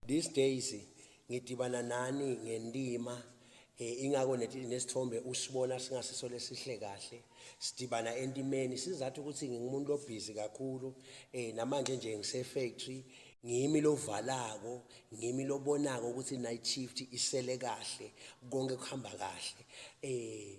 These days ngidibana nani ngendima eh ingako nesithombe usibona singasiso lesihle kahle sidibana entimeni sizathu ukuthi ngingumuntu lobhizi kakhulu eh namanje nje ngise factory ngimi lovalako ngimi lobonako ukuthi night shift isele kahle konke kuhamba kahle eh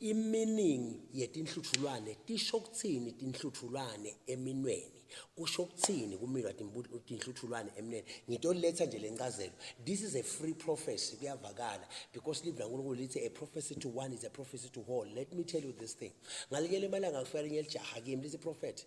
Iminingi yetinhlutshulwane tisho kutsini tinhlutshulwane eminweni? Kusho kutsini kuminwa tinhlutshulwane eminweni? Ngitoletsa nje lencazelo. This is a free prophecy kuyavakala because live laNkulunkulu lithi a prophecy to one is a prophecy to all. Let me tell you this thing. Ngalinye lemalanga kufika linye lijaha kimi lithi prophet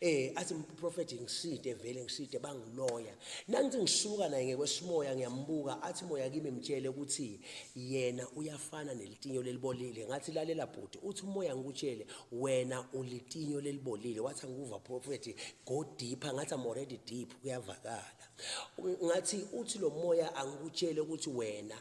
Eh athi prophet ngiside vele ngiside bangiloya. Nangithi ngisuka naye ngekwesimoya ngiyambuka athi moya kimi mtshele ukuthi yena uyafana nelitinyo lelibolile. Ngathi lalela bhuti uthi umoya ngikutshele wena ulitinyo lelibolile. Wathi angikuva prophet go deeper ngathi I'm already deep kuyavakala. Ngathi uthi lo moya angikutshele ukuthi wena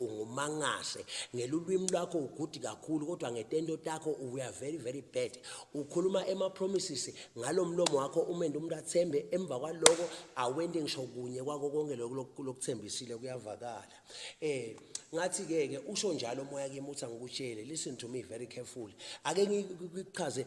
ungumangase ngelulwimi lwakho ugudi kakhulu kodwa ngetento takho uya very very bad ukhuluma ema promises ngalomlomo wakho umende umuntu athembe emva kwaloko awende ngisho kunye kwako konke lokho lokuthembisile kuyavakala eh ngathi ke ke usho njalo moya kimi uthi angikutshele listen to me very carefully ake ngikuchaze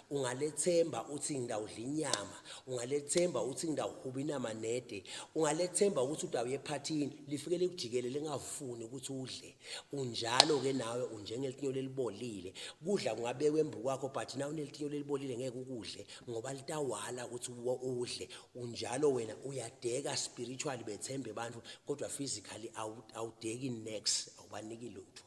ungalethemba uthi ngidawudla inyama ungalethemba uthi ngidawuhuba inama nede ungalethemba ukuthi udawuye ephathini lifike likujikele lingafuni ukuthi udle unjalo ke nawe unjengelitinyo lelibolile kudla kungabekwe embu kwakho but na unelitinyo lelibolile ngeke ukudle ngoba litawala ukuthi udle unjalo wena uyadeka spiritually bethembe abantu kodwa physically awudeki next awubaniki lutho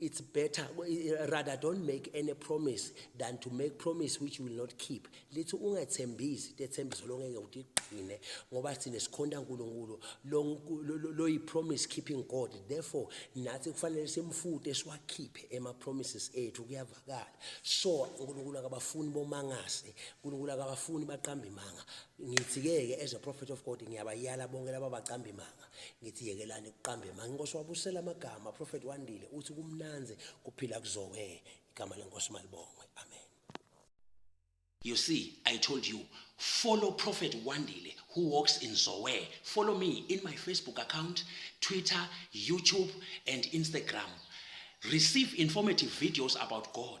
It's better rather don't make any promise than to make promise which you will not keep. Lithi ungathembisi tethembiso longeke utigcine ngoba sine sikhonda uNkulunkulu lo yi promise keeping God. Therefore nathi kufanele simfute siwakhiphe ema promises ethu kuyavakala. So uNkulunkulu akabafuni bomangase, uNkulunkulu akabafuni baqamba imanga. Ngithi ke as a prophet of God ngiyabayala bonke laba baqamba imanga. ngithi yekelani ukuqamba emange inkosi wabusela amagama prophet wandile uthi kumnanze kuphila kuzoke igama lenkosi malibongwe amen you see i told you follow prophet wandile who walks in zowe follow me in my facebook account twitter youtube and instagram receive informative videos about god